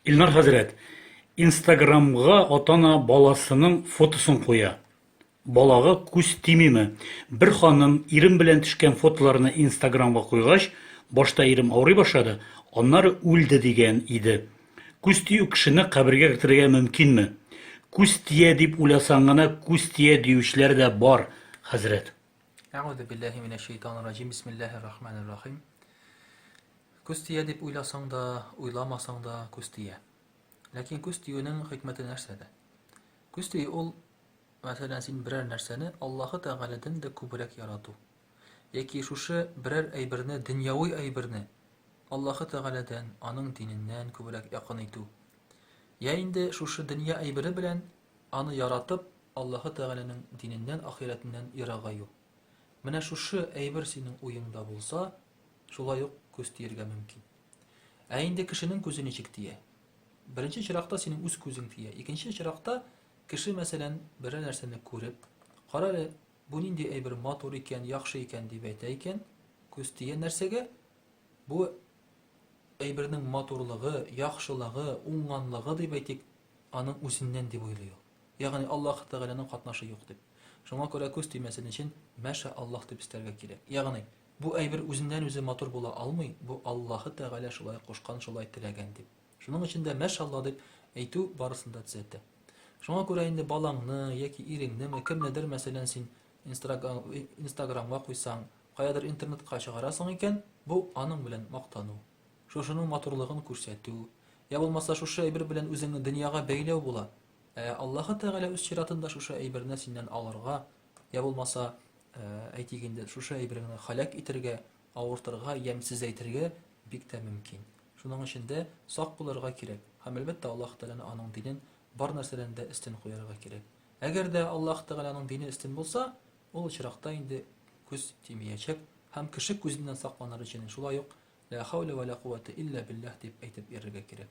Илнар хәзрәт, инстаграмга атана баласының фотосын куя. Балага күз тимиме? Бер ханым ирем белән төшкән фотоларны инстаграмга куйгач, башта ирем авырый башлады, аннары үлде дигән иде. Күз тию кешене кабергә кертергә мөмкинме? Күз тия дип уйласаң гына күз тия диючеләр дә бар, хәзрәт. Әгъузубиллаһи минәш шәйтанир раҗим. Бисмиллаһир рахманир рахим. Күз тия дип уйласаң да, уйламасаң да күз тия. Ләкин күз тиюнең хикмәте нәрсәдә? Күз тию ул, мәсәлән, син берәр нәрсәне Аллаһы Тәгаләдән дә күбрәк ярату. Яки шушы берәр әйберне, дөньяви әйберне Аллаһы Тәгаләдән, аның диненнән күбрәк якын итү. Я инде шушы дөнья әйбере белән аны яратып, Аллаһы Тәгаләнең диненнән, ахирәтеннән ерагаю. Менә шушы әйбер синең уеңда булса, Шулай ук күз тиергә мөмкин. Ә инде кешенең күзе ничек тия? Беренче чиракта синең үз күзең тия. Икенче чиракта кеше, мәсәлән, берәр нәрсәне күреп, кара әле, бу нинди әйбер матур икән, яхшы икән дип әйтә икән, күз тия нәрсәгә? Бу әйбернең матурлыгы, яхшылыгы, уңганлыгы дип әйтик, аның үзеннән дип уйлый ул. Ягъни Аллаһ Тәгаләнең катнашы юк дип. Шуңа күрә күз тимәсен өчен мәшә Аллаһ дип өстәргә кирәк. Ягъни Бу әйбер үзеннән-үзе матур була алмый, бу Аллаһы Тәгалә шулай кушкан, шулай теләгән, дип. Шуның өчен дә Мәшалла дип әйтү барысын да төзәтә. Шуңа күрә инде балаңны, яки иреңнеме, кемнедер, мәсәлән, син Инстаграмга куйсаң, каядыр интернетка чыгарасың икән, бу, аның белән мактану. Шушының матурлыгын күрсәтү, йә булмаса шушы әйбер белән үзеңне дөньяга бәйләү була. Ә Аллаһы Тәгалә үз чиратында шушы әйберне синнән алырга, йә булмаса, Ә, әйтик инде, шушы әйбер генә халәк итергә, авыртырга, ямьсезәйтергә бик тә мөмкин. Шуның өчен дә сак булырга кирәк һәм, әлбәттә, Аллаһ Тәгаләне, аның динен бар нәрсәдән дә өстен куярга кирәк. Әгәр дә Аллаһ Тәгаләнең дине өстен булса, ул очракта инде күз тимиячәк һәм кеше күзеннән сакланыр өчен шулай ук Лә хәүлә вә лә кувәтә илля билләһ дип әйтеп йөрергә кирәк.